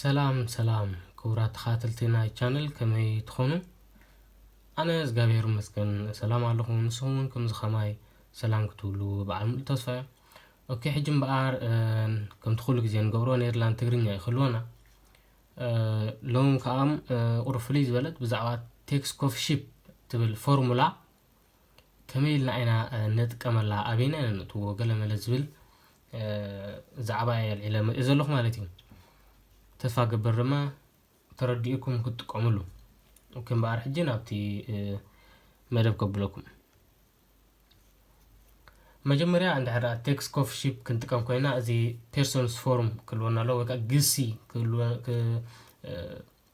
ሰላም ሰላም ክቡራት ተኸታተልቲ ናይ ቻነል ከመይ ትኾኑ? ኣነ እግዚኣብሔር ይመስገን ሰላም ኣለኹ። ንስኹም እውን ከምዚ ከማይ ሰላም ክትብሉ በዓል ሙሉእ ተስፋ እየ። ኦኬ ሕጂ እምበኣር ከምቲ ኩሉ ግዜ ንገብሮ ኔርላንድ ትግርኛ እዩ ክህልወና። ሎሚ ከዓ ቁሩብ ፍልይ ዝበለት ብዛዕባ ቴክስ ኮፊ ሺፕ ትብል ፎርሙላ ከመይ ኢልና ኢና ነጥቀመላ ኣበይና ኢና ነእትዎ ገለመለ ዝብል ዛዕባ እየ ኣልዒለ መሪኦ ዘለኹ ማለት እዩ ተስፋ ገበር ድማ ተረዲኡኩም ክትጥቀምሉ ኦኬ እምበኣር ሕጂ ናብቲ መደብ ከብለኩም መጀመርያ እንድሕር ቴክስ ኮፍ ሺፕ ክንጥቀም ኮይና እዚ ፔርሶንስ ፎርም ክህልወና ኣለዎ ወይ ከዓ ግሲ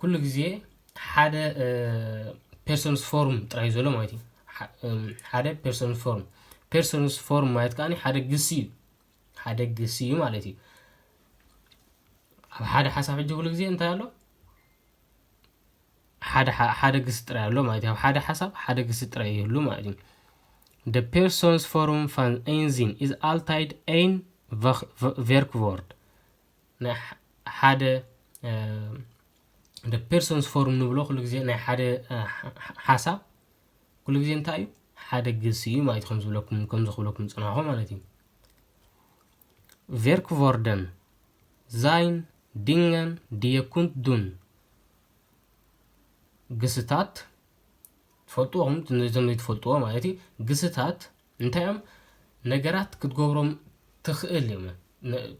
ኩሉ ግዜ ሓደ ፐርሰንስ ፎርም ጥራይ ዘሎ ማለት እዩ ሓደ ፐርሰንስ ፎርም ፐርሰንስ ፎርም ማለት ከዓ ሓደ ግሲ እዩ ሓደ ግሲ እዩ ማለት እዩ ኣብ ሓደ ሓሳብ ሕጂ ኩሉ ግዜ እንታይ ኣሎ ሓደ ግሲ ጥራይ ኣሎ ማለት እዩ ኣብ ሓደ ሓሳብ ሓደ ግሲ ጥራይ ይህሉ ማለት እዩ The person's forum van Einzin is altijd één werkwoord. ናይ ሓደ እንደ ፔርሶንስ ፎርም ንብሎ ኩሉ ግዜ ናይ ሓደ ሓሳብ ኩሉ ግዜ እንታይ እዩ ሓደ ግሲ እዩ ማለት ከም ዝብለኩም ከም ዝኽብለኩም ጽናኹ ማለት እዩ ቨርክቮርደን ዛይን ዲንገን ድየኩንት ዱን ግስታት ትፈልጥዎም እዞም ዘይትፈልጥዎ ማለት እዩ ግስታት እንታይ እዮም ነገራት ክትገብሮም ትኽእል እዮም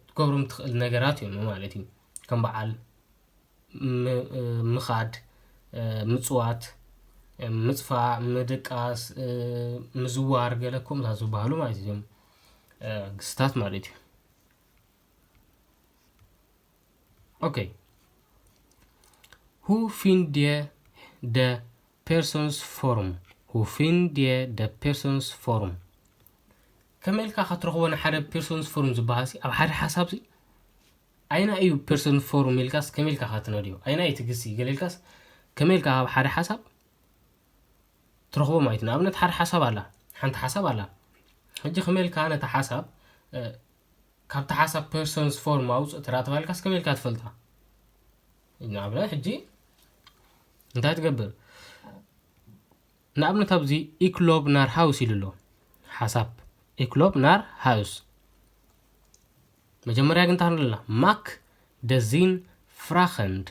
ክትገብሮም ትኽእል ነገራት እዮም ማለት እዩ ከም በዓል ምኻድ ምፅዋት ምፅፋእ ምድቃስ ምዝዋር ገለ ከምኡ ዝበሃሉ ማለት እዮም ግስታት ማለት እዩ ኦኬ ሁ ፊንድ ደ Personsforum Wo findet ihr das Personsforum? ከመይ ኢልካ ከትረኽቦ ንሓደ ፐርሶንስፎርም ዝበሃልሲ ኣብ ሓደ ሓሳብሲ ኣይና እዩ ፐርሶንስፎርም ኢልካስ ከመይ ኢልካ ከትነድዮ ኣይና እዩ ትግሲ ገለ ኢልካስ ከመይ ኢልካ ኣብ ሓደ ሓሳብ ትረኽቦ ማለት እዩ ንኣብነት ሓደ ሓሳብ ኣላ ሓንቲ ሓሳብ ኣላ ሕጂ ከመይ ኢልካ ነታ ሓሳብ ካብቲ ሓሳብ ፐርሶንስፎርም ኣውፅእ ተራ ተባሂልካስ ከመይ ኢልካ ትፈልጣ ንኣብነት ሕጂ እንታይ ትገብር ንኣብነት ኣብዚ ኢክሎብ ናር ሃውስ ኢሉ ኣሎ ሓሳብ ኢክሎብ ናር ሃውስ መጀመርያ ግን እንታይ ንብለና ማክ ደዚን ፍራኸንድ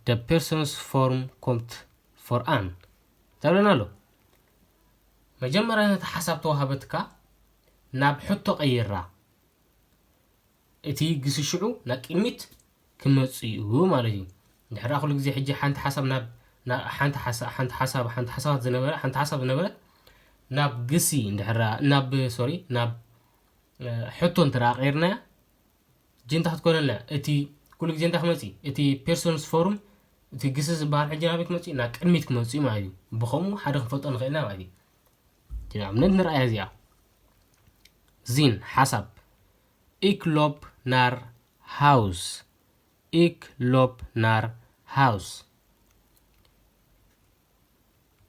ደ ፐርሶንስ ፎርም ኮምት ፎርኣን እንታይ ብለና ኣሎ መጀመርያ ነቲ ሓሳብ ተዋሃበትካ ናብ ሕቶ ቀይራ እቲ ግሲ ሽዑ ናብ ቅድሚት ክመጽእ'ዩ ማለት'ዩ። ድሕራ ኩሉ ግዜ ሕጂ ሓንቲ ሓሳብ ናብ ናብ ሓንቲ ሓሳ ሓንቲ ሓሳብ ሓንቲ ሓሳባት ዝነበረ ሓንቲ ሓሳብ ዝነበረት ናብ ግሲ ድሕራ ናብ ሶሪ ናብ ሕቶ እንተደኣ ቀይርናያ ጅንታ ክትኮነልና እቲ ኩሉ ግዜ እንታይ ክመጽእ እቲ ፔርሶንስ ፎርም እቲ ግሲ ዝበሃል ሕጂ ናበይ ክመጽእ ናብ ቅድሚት ክመጽእ እዩ ማለት እዩ ብከምኡ ሓደ ክንፈልጦ ንኽእል ኢና ማለት እዩ ንኣብነት ንርኣያ እዚኣ ዚን ሓሳብ ኢክ ሎፕ ናር ሃውስ፣ ኢክ ሎፕ ናር ሃውስ።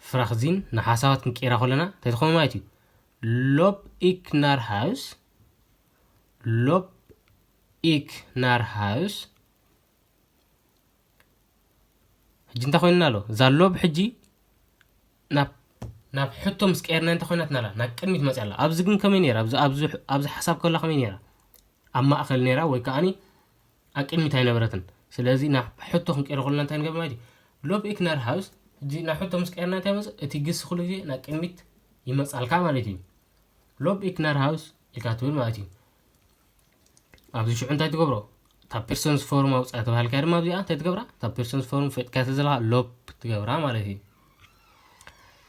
ፍራክዚን ንሓሳባት ክንቅይራ ከለና እንታይ ትኸውን ማለት እዩ? ሎፕ ኢክ ናር ሃውስ፣ ሎፕ ኢክ ናር ሃውስ፣ ሕጂ እንታይ ኮይንና ኣሎ ዛሎ ብሕጂ ናብ ናብ ሕቶ ምስ ቀየርና እንታይ ኮይናትና ኣላ ናብ ቅድሚት መፅያ ኣላ ኣብዚ ግን ከመይ ነይራ ኣብዚ ሓሳብ ከላ ከመይ ነይራ ኣብ ማእኸል ነይራ ወይ ከዓኒ ኣብ ቅድሚት ኣይነበረትን ስለዚ ናብ ሕቶ ክንቀይሮ ከለና እንታይ ንገብር ማለት እዩ ሎብ ኢክነር ሃውስ ሕጂ ናብ ሕቶ ምስ ቀየርና እንታይ መፅ እቲ ግሲ ኩሉ ግዜ ናብ ቅድሚት ይመፃልካ ማለት እዩ ሎብ ኢክነር ሃውስ ኢልካ ትብል ማለት እዩ ኣብዚ ሽዑ እንታይ ትገብሮ እታ ፒርሰንስ ፎርም ኣውፅኣ ተባሃልካ ድማ ኣብዚኣ እንታይ ትገብራ እታ ፒርሰንስ ፎርም ፈጥካ ተዘለካ ሎፕ ትገብራ ማለት እዩ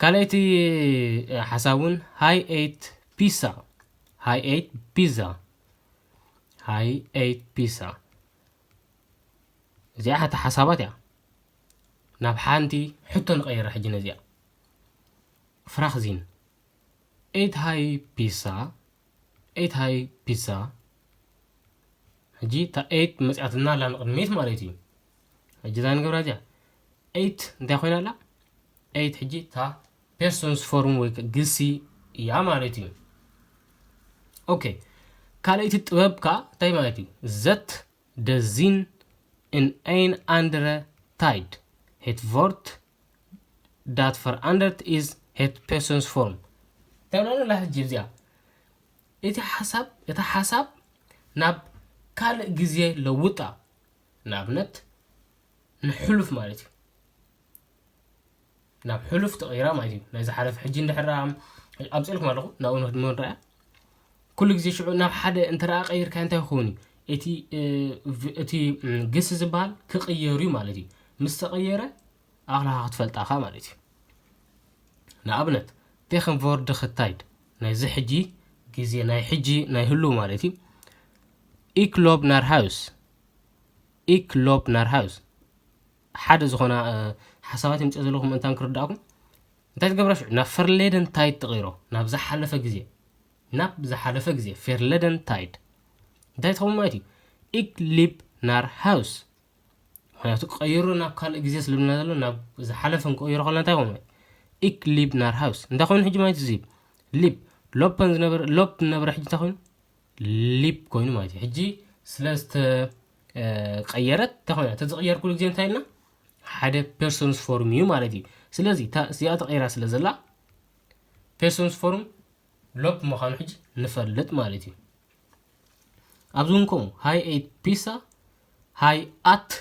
ካልኣይቲ ሓሳብ እውን ሃይ ኤት ፒሳ ሃይ ኤት ፒዛ ሃይ ኤት ፒሳ እዚኣ ሓቲ ሓሳባት እያ ናብ ሓንቲ ሕቶ ንቀይራ ሕጂ ነዚኣ ፍራክዚን ኤት ሃይ ፒሳ ኤት ሃይ ፒሳ ሕጂ እታ ኤት መጽኣትና ኣላ ንቕድሚት ማለት እዩ ሕጂ እዛ ንገብራ እዚኣ ኤት እንታይ ኮይና ኣላ ኤት ሕጂ እታ ፔርሶንስ ፎርም ወይ ግሲ እያ ማለት እዩ ኦኬ ካልኣይቲ ጥበብ ከዓ እንታይ ማለት እዩ ዘት ደዚን ን ኣይን ኣንድረ ታይድ ሄትቮርት ዳት ፈርኣንደርት ኢዝ ሄት ፔርሶንስ ፎርም ተብለንላ ሕጂ እዚኣ እቲ ሓሳብ እቲ ሓሳብ ናብ ካልእ ግዜ ለውጣ ንኣብነት ንሕሉፍ ማለት እዩ ናብ ሕሉፍ ተቐይራ ማለት እዩ ናይ ዝሓለፈ ሕጂ እንድሕራ ኣምፅልኩም ኣለኹ ናብኡ ንክድመ ንረኣያ ኩሉ ግዜ ሽዑ ናብ ሓደ እንተደኣ ቀይርካዮ እንታይ ክኸውን እዩ? እቲ እቲ ግስ ዝበሃል ክቕየር እዩ ማለት እዩ። ምስ ተቐየረ ኣኽላኻ ክትፈልጣ እኻ ማለት እዩ። ንኣብነት ቴክንቮርድኽ ታይድ ናይዚ ሕጂ ግዜ ናይ ሕጂ ናይ ህሉ ማለት እዩ። ኢክ ሎብ ናር ሃውስ ኢክ ሎብ ናር ሃውስ ሓደ ዝኾና ሓሳባት የምፅእ ዘለኹ ምእንታን ክርዳእኩም እንታይ ትገብራ ሽዑ ናብ ፈርሌደን ታይድ ትቕይሮ ናብ ዝሓለፈ ግዜ ናብ ዝሓለፈ ግዜ ፌርለደን ታይድ እንታይ ትኸውን ማለት እዩ ኢክሊፕ ናር ሃውስ ምክንያቱ ቀይሮ ናብ ካልእ ግዜ ስለብና ዘሎ ናብ ዝሓለፈ ንቀይሮ ከለና እንታይ ኮኑ ኢክ ሊብ ናር ሃውስ እንታይ ኮይኑ ሕጂ ማለት እዚ ሊብ ሎፐን ዝነበረ ሎፕ ዝነበረ ሕጂ እንታይ ኮይኑ ሊፕ ኮይኑ ማለት እዩ ሕጂ ስለ ዝተቀየረት እንታይ ኮይና እቲ ዝቅየር ኩሉ ግዜ እንታይ ኢልና ሓደ ፐርሶንስ ፎርም እዩ ማለት እዩ ስለዚ እዚኣ ተቀይራ ስለ ዘላ ፐርሶንስ ፎርም ሎፕ ምዃኑ ሕጂ ንፈልጥ ማለት እዩ ኣብዚ እውን ከምኡ ሃይ ኤት ፒሳ ሃይ ኣት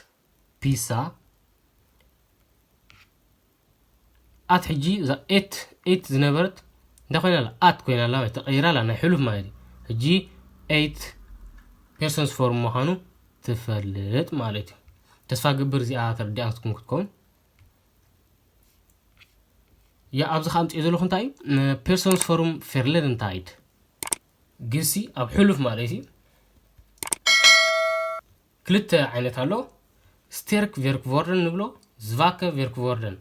ፒሳ ኣት ሕጂ እዛ ኤት ኤት ዝነበረት እንታይ ኮይና ኣላ ኣት ኮይና ኣላ ማለት ተቐይራ ኣላ ናይ ሕሉፍ ማለት እዩ ሕጂ ኤት ፔርሰንስ ፎርም ምዃኑ ትፈልጥ ማለት እዩ ተስፋ ግብር እዚኣ ተረዲኣትኩም ክትከውን ያ ኣብዚ ከ ኣምፅኦ ዘለኹ እንታይ እዩ ፔርሶንስ ፎርም ፌርለር እንታይ ግሲ ኣብ ሕሉፍ ማለት እዩ ክልተ ዓይነት ኣሎ ስቴርክ ቬርክቮርደን ንብሎ ዝቫከ ቬርክቮርደን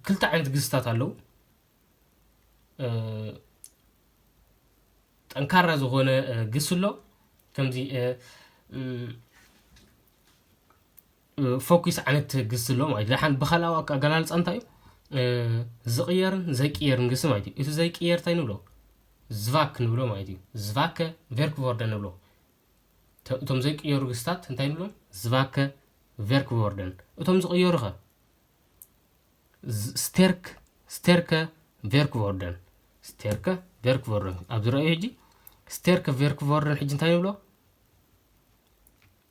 ክልተ ዓይነት ግዝታት ኣለው ጠንካራ ዝኾነ ግስ ኣሎ ከምዚ ፈኲስ ዓይነት ግሲ ኣሎ ማለት እዩ። ደሓን ብካልኣዊ ኣገላልፃ እንታይ እዩ? ዝቕየርን ዘይቅየርን ግሲ ማለት እዩ። እቲ ዘይቅየር እንታይ ንብሎ? ዝቫክ ንብሎ ማለት እዩ። ዝቫከ ቨርክቮርደን ንብሎ። እቶም ዘይቅየሩ ግስታት እንታይ ንብሎም? ዝቫከ ቨርክቮርደን። እቶም ዝቕየሩ ኸ? ስተርክ ስተርከ ቨርክቮርደን ስተርከ ቨርክቮርደን ኣብዚ ረኣዩ ሕጂ ስተርከ ቨርክቮርደን ሕጂ እንታይ ንብሎ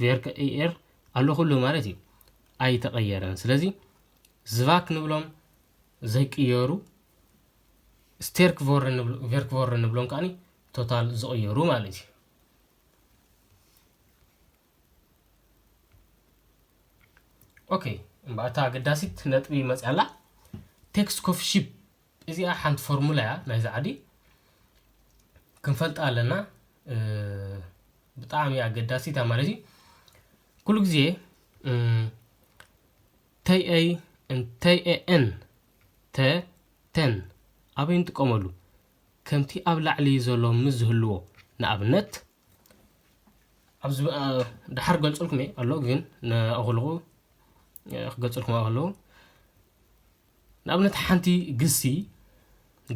ቬርክ እኤር ኣሎ ኩሉ ማለት እዩ ኣይተቀየረን ስለዚ ዝቫክ ንብሎም ዘይቅየሩ ስቴርክ ቨርክ ቮርን ንብሎም ከዓኒ ቶታል ዝቅየሩ ማለት እዩ ኦኬ እምበኣታ ኣገዳሲት ነጥቢ መፅያ ኣላ ቴክስት ኮፊ ሺፕ እዚኣ ሓንቲ ፎርሙላ እያ ናይ ዛዕዲ ክንፈልጣ ኣለና ብጣዕሚ ኣገዳሲት እያ ማለት እዩ ኩሉ ግዜ ተይኤይ እንተይኤኤን ተ ተን ኣበይ ንጥቀመሉ ከምቲ ኣብ ላዕሊ ዘሎ ምስ ዝህልዎ ንኣብነት ኣብዚ ድሓር ገልፅልኩም እየ ኣሎ ግን ንኣኽልኹ ክገልፅልኩም ኣለዉ ንኣብነት ሓንቲ ግሲ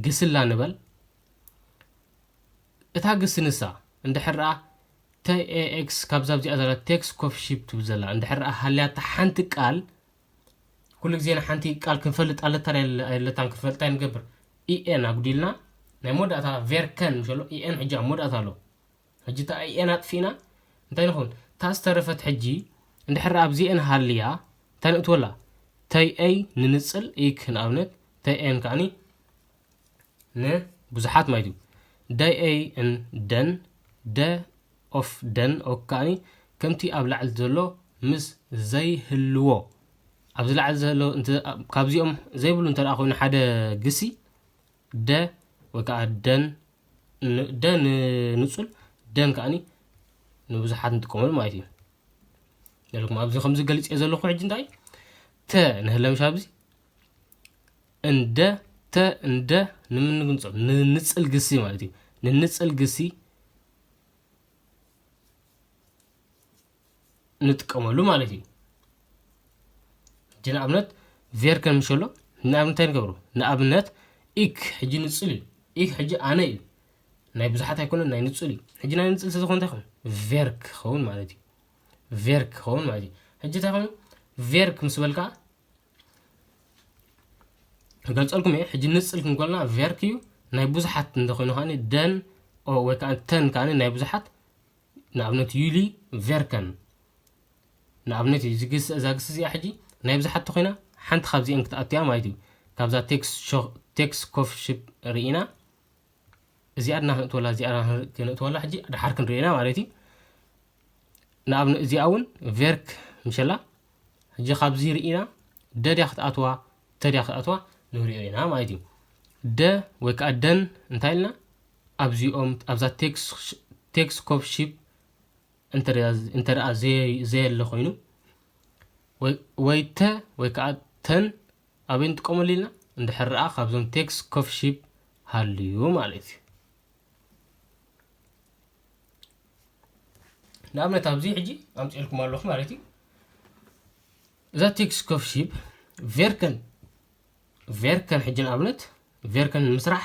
ግስላ ንበል እታ ግሲ ንሳ እንድሕር TAX ካብዛ ኣብዚኣ ዘላ ቴክስ ኮፊ ሺፕ ትብል ዘላ እንድሕር ሃልያታ ሓንቲ ቃል ኩሉ ግዜ ንሓንቲ ቃል ክንፈልጥ ኣለታ ኣለታን ክንፈልጣ ንገብር ኢኤን ኣጉዲልና ናይ መወዳእታ ቬርከን ምሸሎ ኢኤን ሕጂ ኣብ መወዳእታ ኣሎ ሕጂ እታ ኣኤን ኣጥፊእና እንታይ ንኸውን እታ ዝተረፈት ሕጂ እንድሕር ኣብዚኤን ሃልያ እንታይ ንእትወላ ተይ ኣይ ንንጽል ኢክ ንኣብነት ተይ ኣን ከዓኒ ንብዙሓት ማለት እዩ ዳይ ኣይ ን ደን ደ ኦፍ ደን ኦክ ከዓኒ ከምቲ ኣብ ላዕሊ ዘሎ ምስ ዘይህልዎ ኣብዚ ላዕሊ ዘሎ ካብዚኦም ዘይብሉ እንተ ኮይኑ ሓደ ግሲ ደ ወይ ከዓ ደን ን- ደ ንንጹል ደን ከዓኒ ንብዙሓት ንጥቀመሉ ማለት እዩ ዘለኩም ኣብዚ ከምዚ ገሊፅ እየ ዘለኹ ሕጂ እንታይ ተ ንህለምሻ ኣብዚ እንደ ተ እንደ ንምንግንጾም ንንጽል ግሲ ማለት እዩ ንንጽል ግሲ ንጥቀመሉ ማለት እዩ ሕጂ ንኣብነት ቬር ከም ሸሎ ንኣብነት እንታይ ንገብሩ ንኣብነት ኢክ ሕጂ ንፅል እዩ ኢክ ሕጂ ኣነ እዩ ናይ ብዙሓት ኣይኮነን ናይ ንፅል እዩ ሕጂ ናይ ንፅል ስለዝኾነ እንታይ ኹን ቬርክ ክኸውን ማለት እዩ ቬርክ ክኸውን ማለት እዩ ሕጂ እንታይ ኮይኑ ቬርክ ምስ በልካ ገልፀልኩም እየ ሕጂ ንፅል ክንኮልና ቬርክ እዩ ናይ ብዙሓት እንተኮይኑ ከዓ ደን ወይ ከዓ ተን ከዓ ናይ ብዙሓት ንኣብነት ዩሊ ቨርከን ንኣብነት እዩ ዝግስ እዛ ግስ እዚኣ ሕጂ ናይ ብዙሓት ተኾይና ሓንቲ ካብዚኤን ክትኣቱያ ማለት እዩ ካብዛ ቴክስ ኮፍ ሽፕ ርኢና እዚኣ ድና ክንእትወላ እዚኣ ክንእትወላ ሕጂ ድሓር ክንርእና ማለት እዩ ንኣብነት እዚኣ እውን ቨርክ ምሸላ ሕጂ ካብዚ ርኢና ደድያ ክትኣትዋ ተድያ ክትኣትዋ ንሪኦ ኢና ማለት እዩ ደ ወይ ከዓ ደን እንታይ ኢልና ኣብዚኦም ኣብዛ ቴክስ ኮፕ ሺፕ እንተደኣ ዘየለ ኮይኑ ወይ ተ ወይ ከዓ ተን ኣበይ ንጥቀመሉ ኢልና እንድሕር ረኣ ካብዞም ቴክስ ኮፍ ሺፕ ሃልዩ ማለት እዩ ንኣብነት ኣብዚ ሕጂ ኣምፅኤልኩም ኣለኹ ማለት እዩ እዛ ቴክስ ኮፍ ሺፕ ቬርከን ቬርከን ሕጂ ንኣብነት ቬርከን ንምስራሕ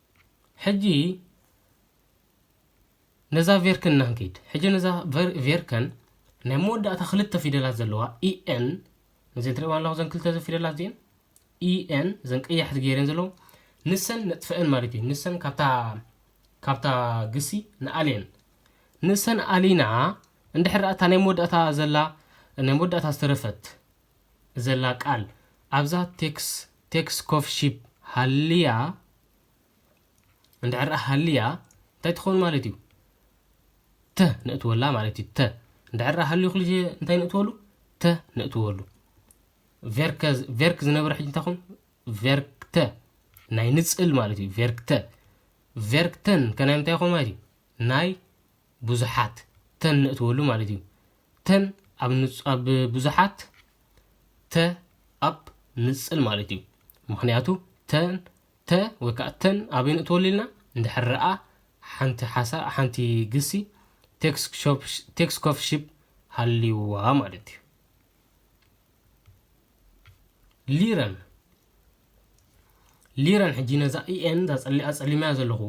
ሕጂ ነዛ ቬርክን እና ንኪድ ሕጂ ነዛ ቬርክን ናይ መወዳእታ ክልተ ፊደላት ዘለዋ ኢኤን ነዘን ትሪእዋ ኣለኹ ዘን ክልተ ፊደላት እዚኤን ኢኤን ዘን ቀያሕቲ ገይረን ዘለዉ ንሰን ነጥፈአን ማለት እዩ ንሰን ካብታ ካብታ ግሲ ንኣልየን ንሰን ኣሊና እንድሕር እታ ናይ መወዳእታ ዘላ ናይ መወዳእታ ዝተረፈት ዘላ ቃል ኣብዛ ቴክስ ቴክስ ኮፍ ሺፕ ሃልያ እንድሕር ሃልያ እንታይ ትኸውን ማለት እዩ ተ ነእትወላ ማለት እዩ ተ እንድሕር ሃልዩ ክልሸ እንታይ ነእትወሉ ተ ነእትወሉ ቨርከ ቨርክ ዝነበረ ሕጂ እንታይ ኹን ቨርክተ ናይ ንፅል ማለት እዩ ቨርክተ ቨርክተን ከናይ ምንታይ ይኸውን ማለት እዩ ናይ ብዙሓት ተን ነእትወሉ ማለት እዩ። ተን ኣብ ብዙሓት ተ ኣብ ንጽል ማለት እዩ። ምክንያቱ ተን ተ ወይ ከዓ ተን ኣበይ ነእትወሉ ኢልና እንድሕር ረኣ ሓንቲ ሓሳ ሓንቲ ግሲ ቴክስ ኮፍሽፕ ሃልይዋ ማለት እዩ ሊረን ሊረን ሕጂ ነዛ ኢኤን ዛፀሊያ ዘለኹ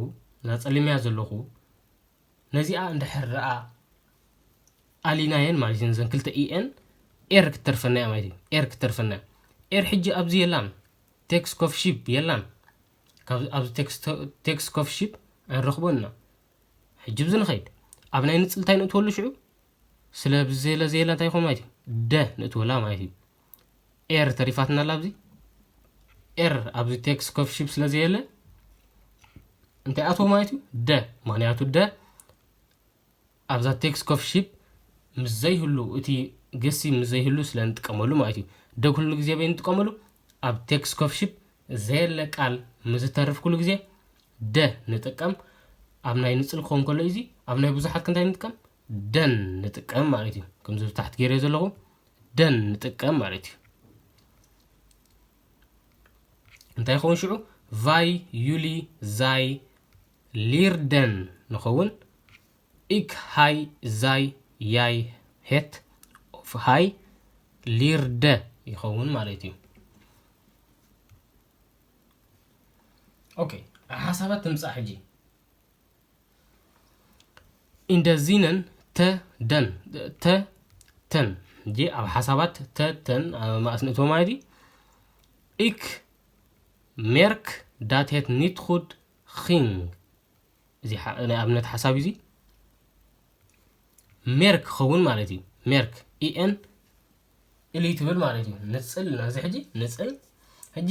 ዛፀሊምያ ዘለኹ ነዚኣ እንድሕር ደኣ ኣሊናየን ማለት እዩ ነዘን ክልተ ኢኤን ኤር ክትተርፈና እያ ማለት እዩ ኤር ክትተርፈና እያ ኤር ሕጂ ኣብዚ የላን ቴክስ ኮፍ ሺፕ የላን ኣብዚ ቴክስ ኮፍ ሺፕ ኣይንረኽቦን ኢና ሕጂ ብዚ ንኸይድ ኣብ ናይ ንፅልታ ይንእትወሉ ሽዑ ስለ ብዘየለ ዘየለ እንታይ ይኸውን ማለት እዩ ደ ንእትወላ ማለት እዩ ኤር ተሪፋትና ኣላ ኣብዚ ኤር ኣብዚ ቴክስ ኮፍሽፕ ስለ ዘየለ እንታይ ኣትዎ ማለት እዩ ደ ምክንያቱ ደ ኣብዛ ቴክስ ኮፍሽፕ ምስ ዘይህሉ እቲ ግሲ ምስ ዘይህሉ ስለ ንጥቀመሉ ማለት እዩ ደ ኩሉ ግዜ በይ ንጥቀመሉ ኣብ ቴክስ ኮፍሽፕ ዘየለ ቃል ምዝተርፍ ኩሉ ግዜ ደ ንጥቀም ኣብ ናይ ንፅል ክኸውን ከሎ እዚ ኣብ ናይ ብዙሓት ክንታይ ንጥቀም ደን ንጥቀም ማለት እዩ ከምዚ ብታሕቲ ገይረ ዘለኹ ደን ንጥቀም ማለት እዩ እንታይ ይኸውን ሽዑ ቫይ ዩሊ ዛይ ሊርደን ንኸውን ኢክ ሃይ ዛይ ያይ ሄት ኦፍ ሃይ ሊርደ ይኸውን ማለት እዩ ኦኬ ሓሳባት ትምፃእ ሕጂ ኢንደዚነን ተ ደን ተ ተን እጂ ኣብ ሓሳባት ተ ተን ኣብ ማእስ ንእቶ ማለት እዩ ኢክ ሜርክ ዳትሄት ኒትኹድ ኺንግ እዚ ናይ ኣብነት ሓሳብ እዩ ሜርክ ክኸውን ማለት እዩ ሜርክ ኢኤን ኢሊ ትብል ማለት እዩ ንፅል ናዚ ሕጂ ንፅል ሕጂ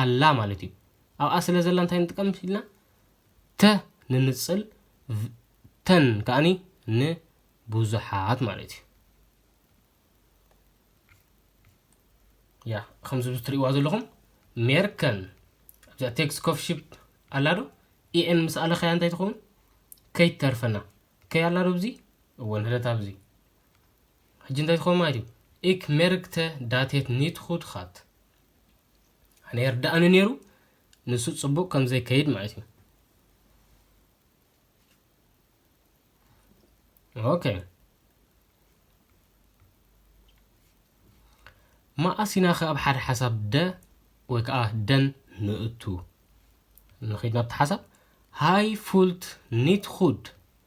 ኣላ ማለት እዩ። ኣብኣ ስለ ዘላ እንታይ ንጥቀም ኢልና ተ ንንጽል ተን ከኣኒ ንብዙሓት ማለት እዩ። ያ ከምዚ ትሪእዋ ዘለኹም ሜርከን ኣብዛ ቴክስ ኮፍ ሽፕ ኣላ ዶ ኢኤን ምስ ኣለኸያ እንታይ ትኸውን ከይትተርፈና ከይ ኣላ ዶ ብዚ እወ ንሕደት ኣብዚ ሕጂ እንታይ ትኸውን ማለት እዩ? እክ ሜርግተ ዳቴት ኒት ጉድ ጋት። ኣነ የርድኣኒ ነይሩ ንሱ ጽቡቕ ከም ዘይከይድ ማለት እዩ። ኦኬ መኣስ ኢና ከ ኣብ ሓደ ሓሳብ ደ ወይ ከዓ ደን ንእቱ ንኺድ ናብቲ ሓሳብ ሃይ ፉልት ኒት ጉድ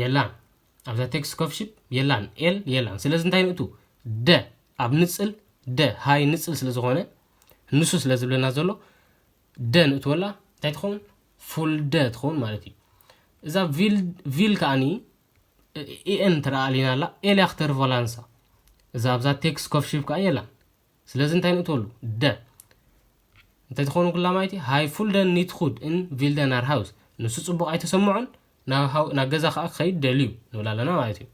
የላን ኣብዛ ቴክስት ኮፍሽፕ የላን ኤል የላን ስለዚ እንታይ ንእቱ ደ ኣብ ንፅል ደ ሃይ ንፅል ስለ ዝኾነ ንሱ ስለ ዝብለና ዘሎ ደ ንእትወላ እንታይ ትኸውን ፉልደ ትኸውን ማለት እዩ እዛ ቪል ከዓኒ ኤን ትረኣ ኣሊና ኣላ ኤልያ ክተርቮላንሳ እዛ ኣብዛ ቴክስ ኮፍሽብ ከዓ የላን ስለዚ እንታይ ንእትወሉ? ደ። እንተትኾኑ ኩላማይቲ ሃይ ፉልደን ኒት ኹድ እን ቪልደ ናር ሃውስ፣ ንሱ ጽቡቕ ኣይተሰምዖን፣ ናብ ገዛ ከኣ ክኸይድ ደልዩ፣ ንብል ኣለና ማለት እዩ።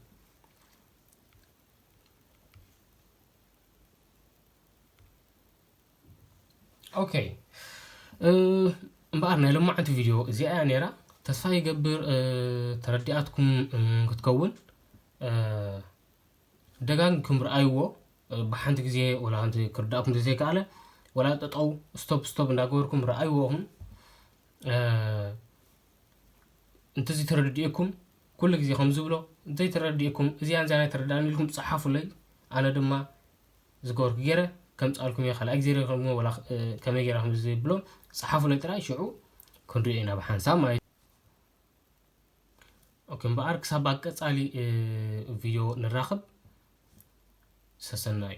ኦኬ እምበኣር ናይ ሎማዓንቲ ቪድዮ እዚኣ እያ ነይራ ተስፋ ይገብር ተረዲኣትኩም ክትከውን ደጋጊምኩም ርኣይዎ ብሓንቲ ግዜ ወላ ሓንቲ ክርዳእኩም ተዘይከኣለ ወላ ጠጠው ስቶፕ ስቶፕ እንዳገበርኩም ርኣይዎ እኹም እንተዚ ተረድኤኩም ኩሉ ግዜ ከም ዝብሎ ዘይተረድኤኩም እዚኣ እንዚኣ ናይ ተረዳእኒ ኢልኩም ፀሓፉለይ ኣነ ድማ ዝገበርኩ ገይረ ከምፃልኩም እየ ካልኣይ ግዜ ረክም ወላ ከመይ ገይራ ከም ዝብሎ ፀሓፉለይ ጥራይ ሽዑ ክንሪኦ ኢና ብሓንሳብ ማለት እዩ ኦኬ እምበኣር ክሳብ ኣብ ቀጻሊ ቪድዮ ንራኸብ ሰሰናዩ